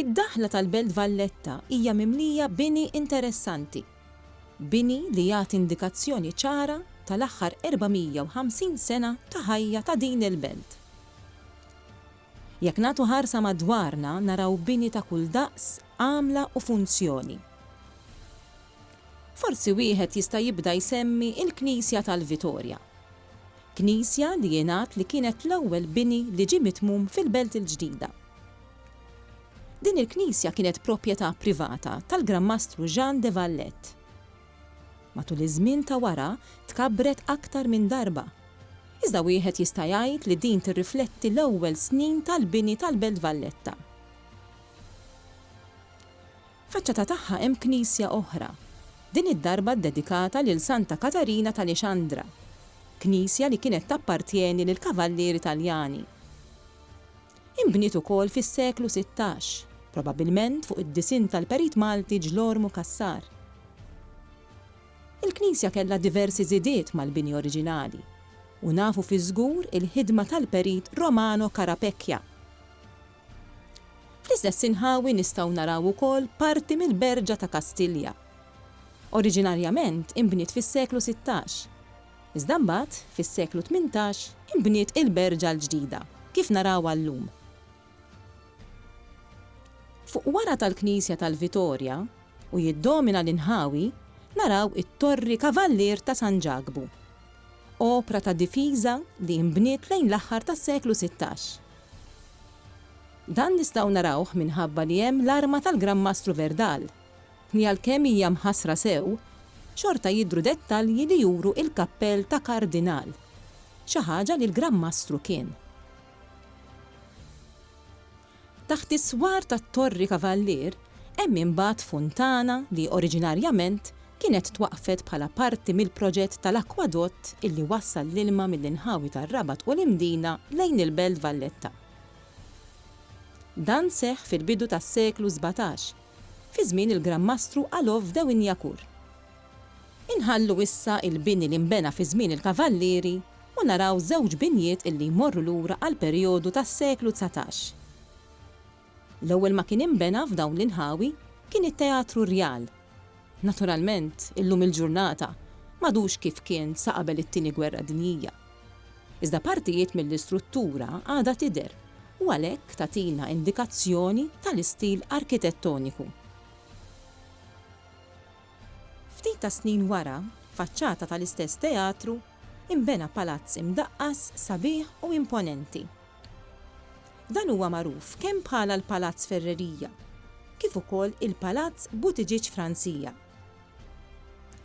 Id-daħla tal-Belt Valletta hija mimlija bini interessanti. Bini li jagħti indikazzjoni ċara tal-aħħar 450 sena ta' ħajja ta' din il-belt. Jekk nagħtu ħarsa madwarna naraw bini ta' kull daqs, għamla u funzjoni. Forsi wieħed jista' jibda jsemmi il-Knisja tal-Vitorja. Knisja li jingħad li kienet l-ewwel bini li ġie mitmum fil-Belt il-Ġdida. Din il-knisja kienet proprjetà privata tal-Gran Mastru Jean de Valette. Matul iż-żmien ta' wara tkabbret aktar minn darba, iżda wieħed jista' jgħid li din tirrifletti l-ewwel snin tal-bini tal-Belt Valletta. Faċċata tagħha hemm knisja oħra, din id-darba ddedikata lil Santa Katarina t'Alexandra, knisja li kienet tappartjeni lill-Kavallieri Taljani. Inbniet ukoll fis-seklu sittax, probabbilment fuq id-disinn tal-perit Malti Ġlormu Cassar. Il-knisja kellha diversi żidiet mal-bini oriġinali, u nafu fiż-żgur il-ħidma tal-perit Romano Carapecchia. Fl-istess inħawi nistgħu naraw ukoll parti mill-Berġa ta' Kastilja. Oriġinarjament inbniet fis-seklu sittax. Iżda mbagħad, fis-seklu tmintax, inbniet il-Berġa l-ġdida, kif narawha llum. Fuq wara tal-knisja tal-Vitorja, u jiddomina l-inħawi, naraw it-torri Kavallier ta' San Ġakbu. Opra ta' difiża li inbniet lejn l-aħħar tas-seklu sittax. Dan nistgħu narawh minħabba li hemm l-arma tal-Gran Mastru Verdal, li għalkemm hija mħassra sew, xorta jidhru dettalji li juru il-kappell ta' Kardinal, xi ħaġa li l-Gran Mastru kien. Taħt is-swar tat-Torri Kavallier hemm imbagħad funtana li oriġinarjament kienet twaqqfet bħala parti mill-proġett tal-akkwadott illi wassal l-ilma mill-inħawi tar-Rabat u l-Imdina lejn il-Belt Valletta. Dan seħħ fil-bidu tas-seklu sbatax, fi żmien il-Gran Mastru Alov Dewinyakur. Inħallu issa l-bini li nbena fi żmien il-Kavallieri u naraw żewġ binjiet illi jmorru lura għall-perjodu tas-seklu dsatax. L-ewwel ma kien inbena f'dawn l-inħawi kien it-Teatru Rjal. Naturalment, illum il-ġurnata m'għadux kif kien sa qabel it-Tieni Gwerra Dinjija. Iżda partijiet mill-istruttura għadha tidher u għalhekk tagħtina indikazzjoni tal-istil arkitettoniku. Ftit tas-snin wara, faċċata tal-istess teatru, Inbena palazz imdaqqas, sabiħ u imponenti. Dan huwa magħruf kemm bħala l-Palazz Ferreria, kif ukoll il-Palazz Buttigieg Francia.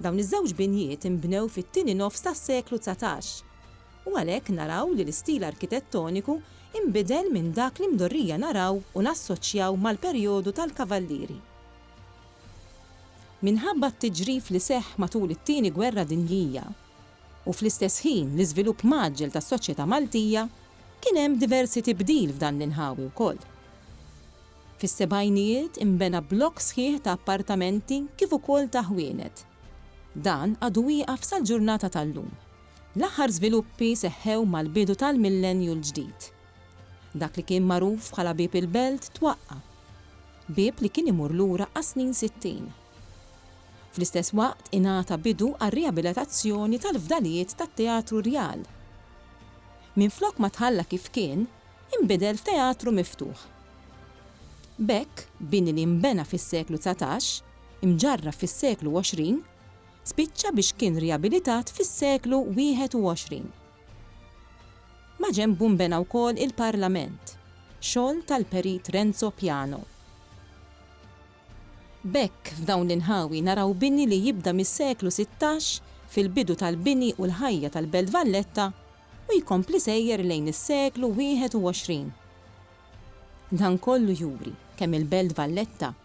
Dawn iż-żewġ binjiet inbnew fit-tieni nofs tas-seklu dsatax, u għalhekk naraw li l-istil arkitettoniku inbidel minn dak li mdorrija naraw u nassoċjaw mal-perjodu tal-Kavallieri. Minħabba t-tiġrif li seħħ matul it-Tieni Gwerra Dinjija, u fl-istess ħin l-iżvilupp mgħaġġel tas-soċjetà Maltija, kien hemm diversi tibdil f'dan l-inħawi wkoll. Fis-sebgħinijiet inbena blokk sħiħ ta' appartamenti kif ukoll ta' ħwienet. Dan għadu wieqaf sal-ġurnata tal-lum. L-aħħar żviluppi seħħew mal-bidu tal-millennju l-ġdid. Dak li kien magħruf bħala Bieb il-Belt twaqqa'. Bieb li kien imur lura għas-snin sittin. Fl-istess waqt ingħata bidu għar-riabilitazzjoni tal-fdalijiet tat-Teatru Rjal. Minflok ma tħalla kif kien, inbidel f'teatru miftuħ. B'hekk, bini li nbena fis-seklu dsatax, imġarraf fis-seklu għoxrin, spiċċa biex kien riabilitat fis-seklu wieħed u għoxrin. Maġenbu nbena wkoll il-Parlament, xogħol tal-Perit Renzo Piano. B'hekk f'dawn l-inħawi naraw bini li jibda mis-seklu sittax fil-bidu tal-bini u l-ħajja tal-Belt Valletta u jkompli sejjer lejn is-seklu wieħed u għoxrin. Dan kollu juri kemm il-Belt Valletta